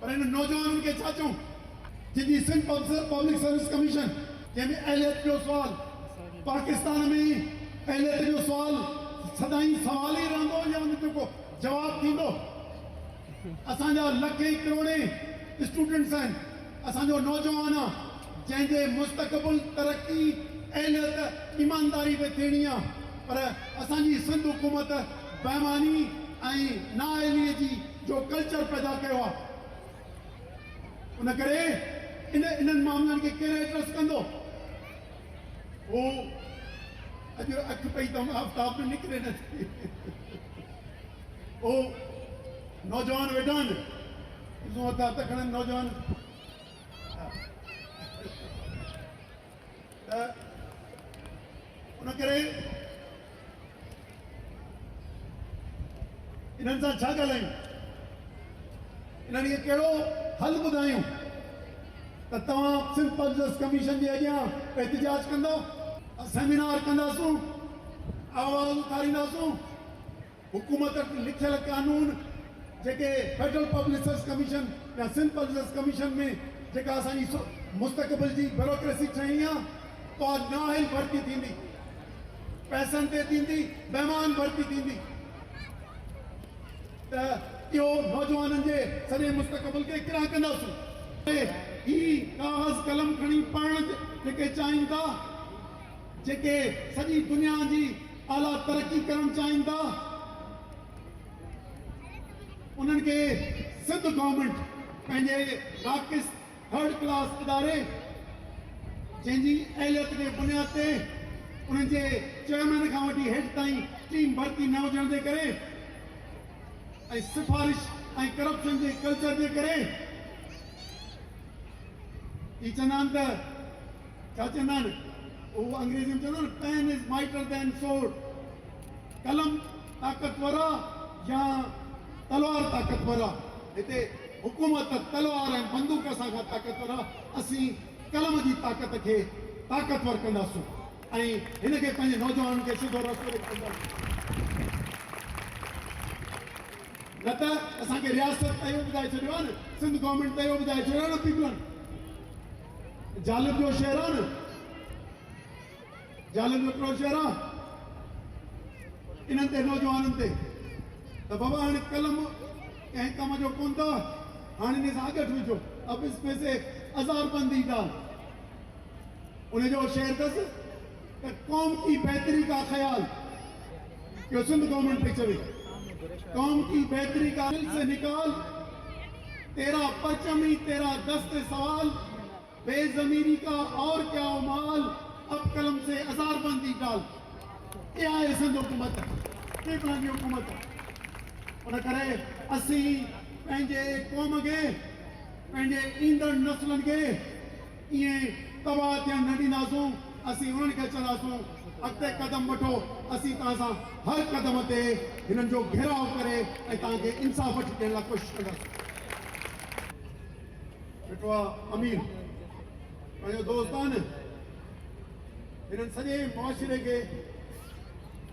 پر انهن نوجوانن کي ڇا چئون جن جي سنڌ پبلڪ سروس ڪميشن جنهن ۾ اهليت جو سوال پاڪستان ۾ ئي اهليت جو سوال سدائين سوال ئي رهندو يا ان جو ڪو جواب ٿيندو؟ اسان جا لکين ڪروڙين اسٽوڊنٽس آهن اسان جو نوجوان آ جنهن جي مستقبل ترقي اهليت ايمانداري تي ٿيڻي آ پر اسان جي سنڌ حڪومت بيماني ۽ نااهلي جي جو ڪلچر پيدا ڪيو آهي ان ڪري ان انهن معاملن کي ڪير ايڊريس ڪندو هو اڄ اک پئي تم آفتاب ۾ نڪري نه ٿي هو نوجوان ويٺا آهن ڏسون هٿ هٿ کڻن نوجوان ته ان ڪري انهن سان ڇا ڳالهايون؟ انهن کي ڪهڙو حل ٻڌايون ته توهان سنڌ پبلڪ ڪميشن جي اڳيان احتجاج ڪندا؟ سيمينار ڪنداسون، آواز اٿارينداسون. حڪومت وٽ لکيل قانون جيڪي فيڊرل پبلڪ سروس ڪميشن يا سنڌ پبلڪ سروس ڪميشن ۾ جيڪا اسان جي مستقبل جي بيوروڪريسي ٺهڻي آ اها نااهل ڀرتي ٿيندي پئسن تي ٿيندي بيمان ڀرتي ٿيندي ته اهو نوجوانن جي سڄي مستقبل کي ڪرا ڪنداسون هي ڪاغذ قلم کڻي پڙهڻ جيڪي چاهين ٿا جيڪي سڄي دنيا جي اعليٰ ترقي ڪرڻ چاهين ٿا انهن کي سنڌ گورنمينٽ پنهنجي راڪس ٿرڊ ڪلاس اداري جنهن جي اهليت جي بنياد تي انهن جي چيئرمين کان وٺي هيٺ تائين ٽيم ڀرتي نه هجڻ جي ڪري ۽ سفارش ۽ ڪرپشن جي ڪلچر جي ڪري هي چوندا آهن ته ڇا چوندا آهن هو انگريزي ۾ چوندا آهن Pen is mighter than sword قلم طاقتور آ يا تلوار طاقتور آ هتي حڪومت تلوار ۽ بندوق سان کان طاقتور آ اسين قلم جي طاقت کي طاقتور ڪنداسون ۽ هن کي پنهنجي نوجوانن کي سڌو رستو ڏيکارينداسون نه ته اسان کي رياست ته اهو ٻڌائي ڇڏيو آ نه سنڌ گورنمينٽ ته اهو ٻڌائي ڇڏيو آ نه پيپلن ظالم جو شعر آ نه ظالم جو ڪهڙو شعر آ انهن تي نوجوانن تي ته بابا هاڻي قلم ڪنهن ڪم جو ڪون ٿا هاڻي ان سان اڳٺ وجهو اب اس ۾ سي ازار بندي ڊال ان جو شعر اٿس ته قوم ڪي بهتري ڪا خيال جو سنڌ گورنمينٽ پئي چوي قوم ڪي بهتري ڪا دل سي نڪال تيرا پرچم هي تيرا دست سوال بي ضميري ڪا اور ڪيا هو مال اب قلم سي ازار بندي ڊال اها آهي سنڌ حڪومت ٽريبلن جي حڪومت ان ڪري اسين پنهنجي قوم کي پنهنجي ايندڙ نسلن کي ائين تباهه ٿيڻ نه ڏينداسون، اسين انهن کي چئنداسون، اڳتي قدم وٺو، اسين توهان سان هر قدم تي هنن جو گهيراء ڪري ۽ توهان کي انصاف وٺي ڏيڻ لاء ڪوشش ڪنداسون. ڏٺو آهي امير پنهنجو دوست آهي نه، هنن سڄي معاشري کي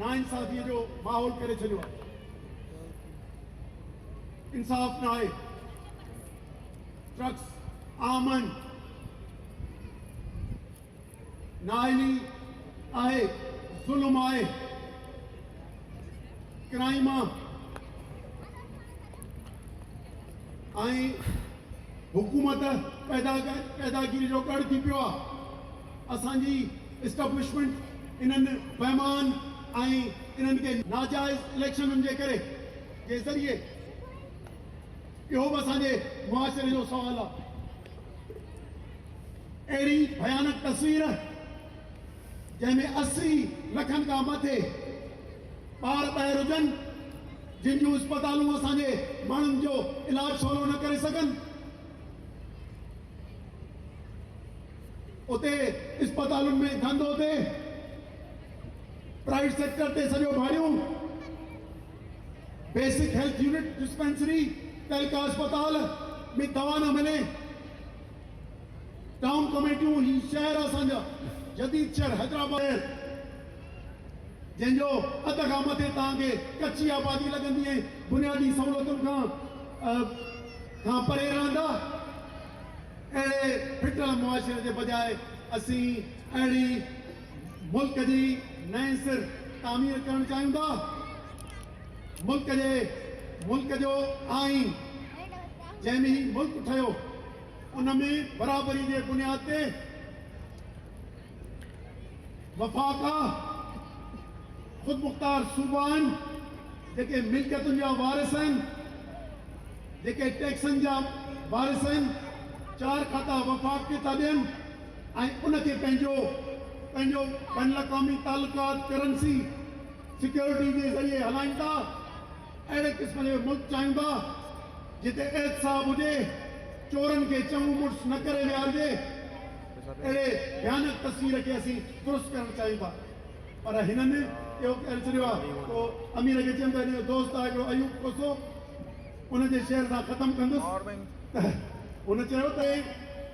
ناانصافيء جو ماحول ڪري ڇڏيو آهي، انصاف ناهي، ٽرڪس آمن نااهلي آهي ظلم آهي ڪرائيم آهي ۽ حڪومت پيدا پيداگيري جو ڳڙ ٿي پيو آهي اسانجي اسٽبلشمنٽ انهن بيمان ۽ انهن کي ناجائز اليڪشنن جي ڪري جي ذريعي اهو به اسان جي معاشري جو سوال آهي. اهڙي ڀيانڪ تصوير جنهن ۾ اسي لکن کان مٿي ٻار ٻاهر هجن، جن جون اسپتالون اسان جي ماڻهن جو علاج سولو نه ڪري سگهن، اتي اسپتالن ۾ ڌنڌو ٿئي، پرائيويٽ سيڪٽر تي سڄو ڀاڙيون، بيسڪ هيلٿ يونٽ ڊسپينسري تعلقه اسپتال ۾ دوا نه ملي ٽائون ڪميٽيون هي شهر اسان جا جديد شهر حيدرآباد جنهن جو اڌ کان مٿي توهان کي ڪچي آبادي لڳندي ۽ بنيادي سهولتن کان کان پري رهندا اهڙي ڦٽل معاشري جي بجاء اسين اهڙي ملڪ جي نئين سر تعمير ڪرڻ چاهيون ٿا، ملڪ جي ملڪ جو آئين جنهن ۾ هي ملڪ ٺهيو ان ۾ برابري جي بنياد تي وفاق آ، خودمختار صوبا آهن، جيڪي ملڪيتن جا وارث آهن، جيڪي ٽيڪسن جا وارث آهن، چار کاتا وفاق کي ٿا ڏين. ۽ ان کي پنهنجو پنهنجو بين الاقوامي تعلقات، ڪرنسي، سيڪيورٽي جي ذريعي هلائين ٿا، اهڙي قسم جو ملڪ چاهيون ٿا جتي احتساب هجي، چورن کي چنگو مڙس نه ڪري ويهارجي، اهڙي ڀيانڪ تصوير کي اسين درست ڪرڻ چاهيون ٿا پر هنن اهو ڪري ڇڏيو آهي، پوء امير کي چيم ته هن جو دوست آهي هڪڙو ايوب کوسو، ان جي شعر سان ختم ڪندس ته هن چيو ته.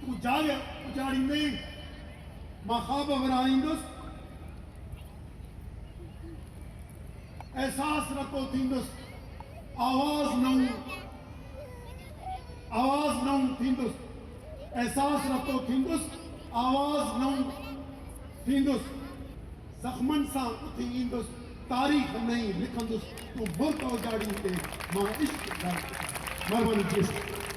تون جاء اجاڙيندين، مان خواب وراڻيندس، احساس رتو ٿيندس، آواز نئون آواز نئون ٿيندس، احساس رتو ٿيندس، آواز نئون ٿيندس، زخمن سان اٿي ايندس، تاريخ نئين لکندس، تون برق اجاڙيندين، مان عشق جاء اجاڙيندس. مھرباني جي سر.